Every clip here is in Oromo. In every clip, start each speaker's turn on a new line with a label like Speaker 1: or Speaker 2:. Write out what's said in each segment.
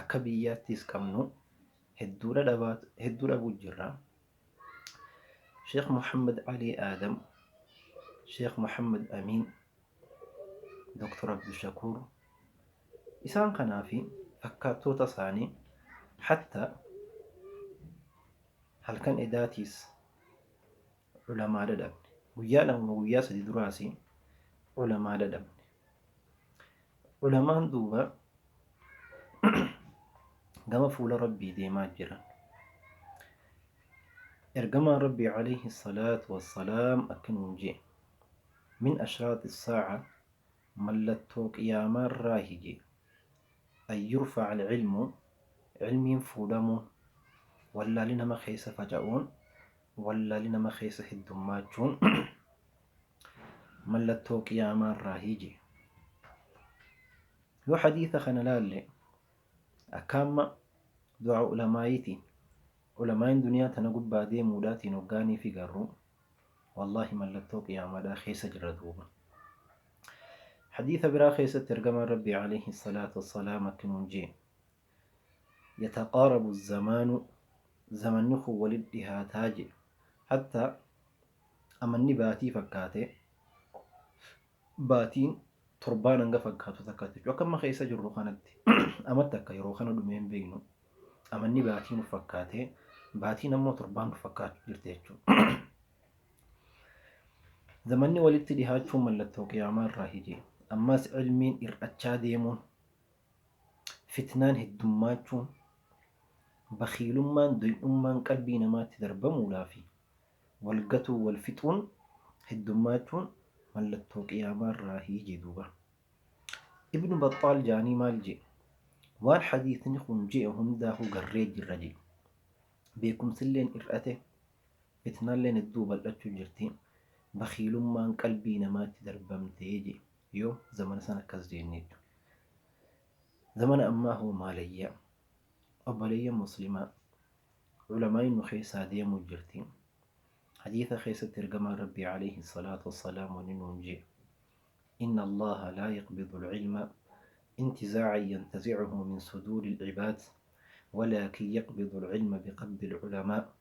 Speaker 1: Akka biyyaattiis qabnu hedduu dhabuu jirra. Sheekh Muhammad Alii Aadam, Sheekh Muhammad Amiin, Doktar Abdushakuur isaan kanaa fi fakkaattoota isaanii hattaa halkan edaatiis Ulamaa dadhabne. Guyyaa lama moo guyyaa sadi duraas ulamaa dadhabne. Ulamaan duuba gama fuula Rabbii deemaa jiran. Ergamaan Rabbii alayhi salaatu wassalaam akka nuun jee. Min ashraaxi saaca mallattoo qiyaamaa irraahi jee. An yurfaca alcilmu cilmiin fuudhamuun wallaalli nama keessa faca'uun Wallaalli nama keessa heddummaachuun mallattoo qiyaamaarraahi jee. Yoo hadiisa kana laalle akka amma du'aa ulamaa'iitiin, ulamaa'iin duniyaa tana gubbaa deemuudhaatiin hoggaaniifi garru, wallaahi mallattoo qiyaamaadhaa keessa jirra duuba. Hadiisa biraa keessatti ergamaan Rabbii, aleyhi salaatu wassalaam, akki nuun jee. yataqaarabu zamaanu zamanni kun walit dhihaataa je hatta amanni baatii fakkaatee baatiin torbaan hanga fakkaatu takkaatti jechuudha akka amma keessa jirru kanatti amatti akka yeroo kana dhumee hin beeknu amanni baatii nuuf fakkaatee baatiin ammoo torbaan nuuf fakkaachuu jirti jechuudha. Zamanni walitti dhihaachuun mallattoo qiyaamaa irraa hije ammas ilmiin ir'achaa deemuun fitnaan heddummaachuun, bakhiilummaan, doy'ummaan qalbii namaatti darbamuudhaa fi wal gatuu, wal fixuun heddummaachuun mallattoo qiyaamaarraahi jee duuba. Ibnu Baxxaal jaanii maal jee? Waan hadiisni kun je'e hundaahuu garree jirra je'e. Beekumsilleen ir'ate, fitnaalleen hedduu bal'achuu jirti, bakhiilummaan qalbii namaatti darbamte je'e. Yoo zamana san akkas jeennee. Zamana ammaa hoo maalayyaa? Obboleeyyan muslimaa Ulamaa'iin nu keessaa deemuu jirti. Hadiisa keessatti ergamaan Rabbii alayhi salaatu wassalaam wanni nuun jee. Inna Allaaha laa yaqbidu al-ilma intizaacan yantazicuhu min suduuri al-cibaad walaakin yaqbidu al-ilma biqabdi al-ulamaa.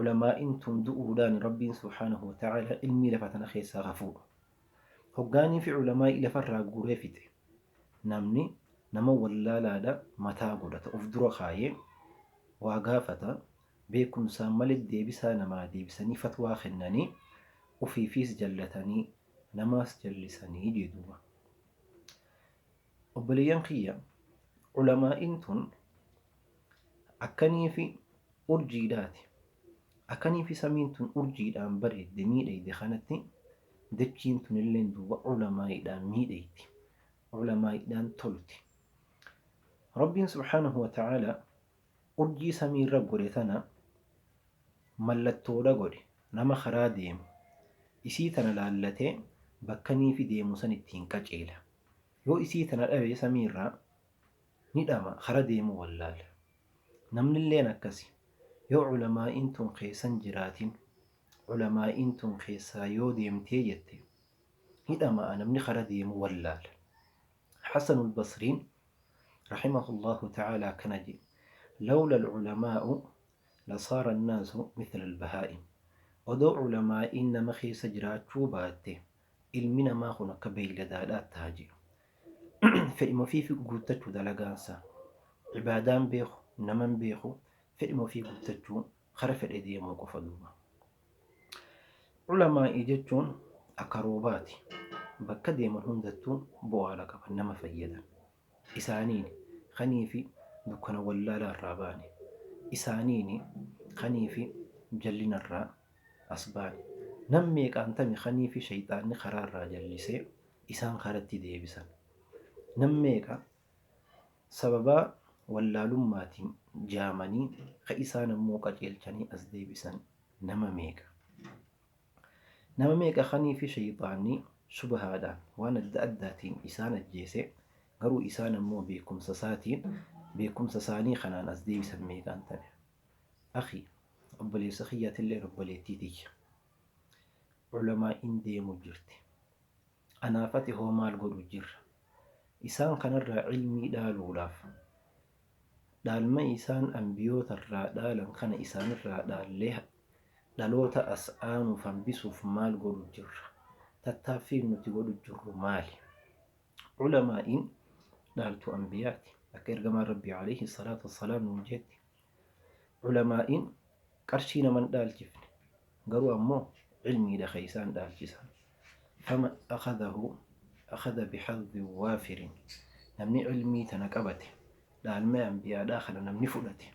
Speaker 1: Ulamaa'iin tun du'uudhaan Rabbiin subhaanahu wa ta'aalaa ilmii lafa tana keessaa haa fuudhu. Hoggaaniifi ulamaa'ii lafarraa guuree fixe. Namni nama wallaalaadha mataa godhata uf dura kaayee waa gaafata, beekumsaan malee deebisaa namaa deebisanii fatwaa kennanii ufiifiis jallatanii namaas jallisanii jee duuba. Obboleeyyan kiyya ulamaa'iin tun akkaniifi urjiidhaati akkaniifi samiin tun urjiidhaan bareedde miidhayde kanatti dachiin tunilleen duuba ulamaa'iidhaan miidhayti ulamaa'iidhaan tolti Rabbiin subhaanahu wa ta'aalaa urjii samiirra godhe tana mallattoodha godhe nama karaa deemu isii tana laallatee bakkaniifi deemu san ittiin qaceela Yoo isii tana dhabe samii irraa ni dhama kara deemu wallaala. Namnilleen akkasi. Yoo culamaa'iin tun keessan jiraatin culamaa'iin tun keessaa yoo deemtee jette ni dhama'a namni kara deemu wallaala. Hasanul Basriin rahimahullahu ta'aala akkana je'e, Lawlal culamaa'u lasaara annaasu mithlal bahaa'im. Odoo culamaa'iin nama keessa jiraachuu baatte Ilmi namaa kun akka beeyladaadhaatti taha jiru. Fedhima ofii fi guuttachu dalagaan isaa. Ibaadaa hin beeku, nama hin beeku, fedhima ofii guuttachuu kara fedhe deemuu qofa duuba. Ulamaa'ii jechuun akka roobaati. Bakka deeman hundattuu bu'aadha qaban, nama fayyadan. Isaaniin, kanii fi dukkana wallaalaa irraa baane. Isaaniin, kanii fi jallina irraa as baane. Nam meeqaan tami kanii fi sheyxaanni karaa irraa jallisee isaan karatti deebisan. Nam meeqa sababaa wallaalummaatiin jaamanii ka isaan ammoo qaceelchanii as deebisan nama meeqa. Nama meeqa kaniifi sheyxaanni shubahaadhaan waan adda addaatiin isaan ajjeese, garuu isaan ammoo beekkumsa isaatiin beekkumsa isaanii kanaan as deebisan meeqaan tane. Akhii, obboleessa kiyya atilleen obboleettii tiyya. Ulamaa'iin deemu jirti. Anaaf ati hoo maal godhu jirra? Isaan kanarraa ilmii dhaaluudhaaf, dhaalma isaan anbiyootarraa dhaalan kana isaanirraa dhaallee dhaloota as aanuuf hanbisuuf maal godhu jirra? Tattaaffiin nuti godhu jirru maali? Ulamaa'iin dhaaltuu anbiyaati. Akka ergamaan Rabbii, aleyhi salaatu wassalaam, nuun jeetti. Ulamaa'iin qarshii nama hin dhaalchifne, garuu ammoo ilmiidha ka isaan dhaalchisan. Faman akhadahu akhada bihadhin waafirin, namni ilmii tana qabate, dhaalmaya anbiyaadhaa kana namni fudhate,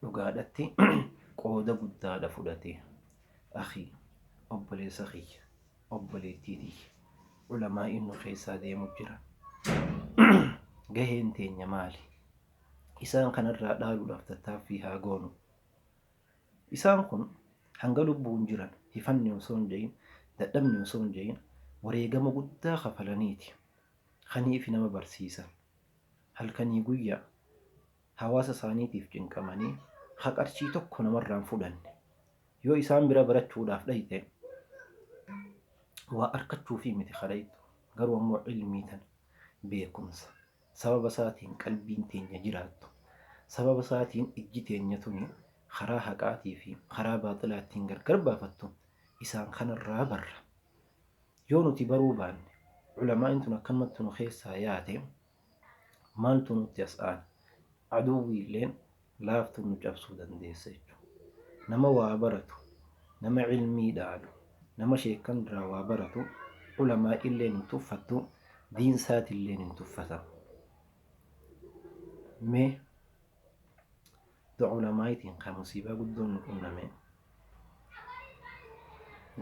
Speaker 1: dhugaadhatti qooda guddaadha fudhate. Akhii, obboleessa kiyya, obboleettii tiyya, ulamaa'iin nu keessaa deemu jiran, gaheen teenya maali? Isaan kana irraa dhaaluudhaaf tattaaffii haa goonu. Isaan kun hanga lubbuun jiran hifanni osoo hin ja'iin, dadhabni osoo hin ja'iin wareegama guddaa kafalaniiti kaniifi nama barsiisan. Halkanii guyyaa hawaasa isaaniitiif cinqamanii ka qarshii tokko namarraa hin fudhanne. Yoo isaan bira barachuudhaaf dhayxe waa arkachuufii miti ka dhayxu garuu ammoo ilmii tana, beekumsa, Sababa isaatiin qalbiin teenya jiraattu, sababa isaatiin ijji teenya tuni karaa haqaatii fi karaa baaxilaa ittiin gargar baafattu isaan kana irraa barra. Yoo nuti baruu baanne, ulamaa'iin tun akkanumatti nu keessaa yaate, maaltu nutti as aana? Aduwwiilleen laaftu nu cabsuu dandeessa jechuudha. Nama waa baratu, nama ilmii dhaalu, nama sheekkan irraa waa baratu ulamaa'iilleen hin tuffattu, diin isaatiilleen hin tuffata. Mee dua ulamaa'iitiin kan musiibaa guddoon nu qunname.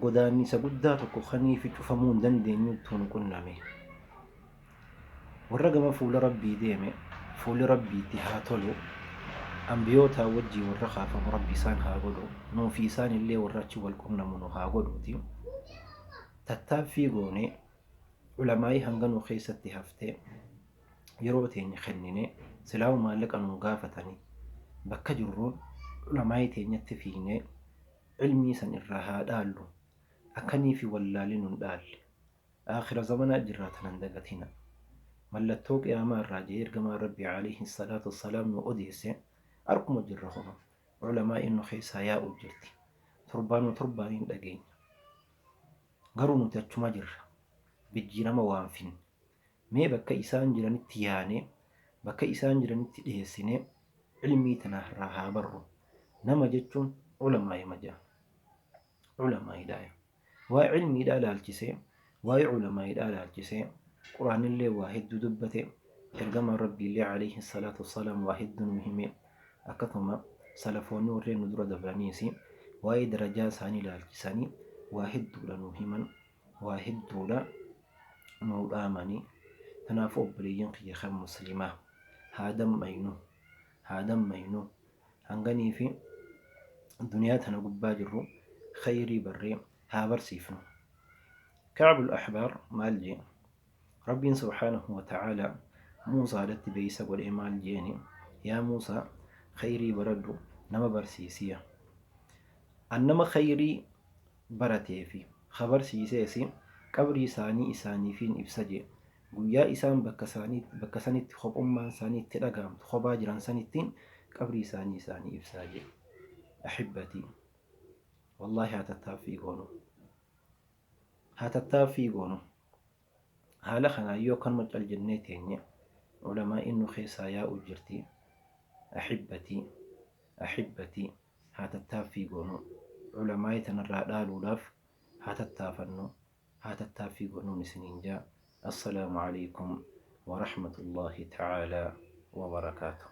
Speaker 1: godaannisa guddaa tokko kaniifi cufamuu hin dandeenyuttu nu qunname. Warra gama fuula Rabbii deeme fuulli Rabbii itti haa tolu, anbiyootaa wajjii warra kaafamu Rabbi isaan haa godhu, nuufi isaan illee warra achi wal qunnamu nu haa godhuuti. Tattaaffii goone, ulamaa'ii hanga nu keessatti hafte yeroo teenya kenninee silaahuu maallaqa nuu gaafatanii bakka jirruu ulamaa'ii teenyatti fiiynee ilmii san irraa haa dhaallu akkaniifi wallaalli nun dhaalle aakhira zamanaa jirraa tana hin dagatinaa mallattoo qiyaamaa irraa ja'ee ergamaan rabbii aleeyhi salaatu wassalaam nuu odeesse arkuma jirra homa ulamaa'iin nu keessaa yaa'uu jirti torbaanuma torbaaniin dhageenya garuu nuti achuma jirra bijjiirama waan finne Mee bakka isaan jiranitti yaanee, bakka isaan jiranitti dheessinee ilmii tana irraa haa barru. Nama jechuun ulamaa'ima jedhama. Ulamaa'iidhaaya. Waa'ee ilmiidhaa laalchisee, waa'ee ulamaa'iidhaa laalchisee Qur'aannillee waa hedduu dubbate, Ergamaan Rabbiillee aleyhi salaatu wassalaam waa hedduu nuu hime, akkasuma salafoonni warreen nu dura dabraniisi waa'ee darajaa isaanii laalchisanii waa hedduudha nuu himan. waa hedduudha nuu dhaamani kanaafuu obboleeyyan kiyya kan muslimaa haa dammaynu haa dammaynu hanganii fi duniyaa tana gubbaa jirru khayrii barree haa barsiifnu ka'abul ahbaar maal jee Rabbiin subhaanahu wa ta'aalaa Muusaadhatti beeysa godhee maal jeeni, Yaa Muusaa! Khayrii baradhu, nama barsiisiya. An nama khayrii baratee fi kha barsiiseesi qabrii isaanii isaaniifiin ibsa jee. Guyyaa isaan bakka isaanii, bakka sanitti khophummaan isaanii itti dhagahamtu, khophaa jiran sanitti qabrii isaanii isaanii ibsaa jee. Ahibbatii! Wallaahi haa tattaaffii goonu. Haa tattaaffii goonu. Haala kanaan yoo akkanuma cal jennee teenye ulamaa'iin nu keessaa yaa'uu jirti. Ahibbatii Ahibbatii haa tattaaffii goonu. Ulamaa'ii tana irraa dhaaluudhaaf haa tattaafannu, haa tattaaffii goonun isiniin jaa. Assalaamu Aleykum wa Rahmatullaahi Ta'aalaa wa Barakaatuh.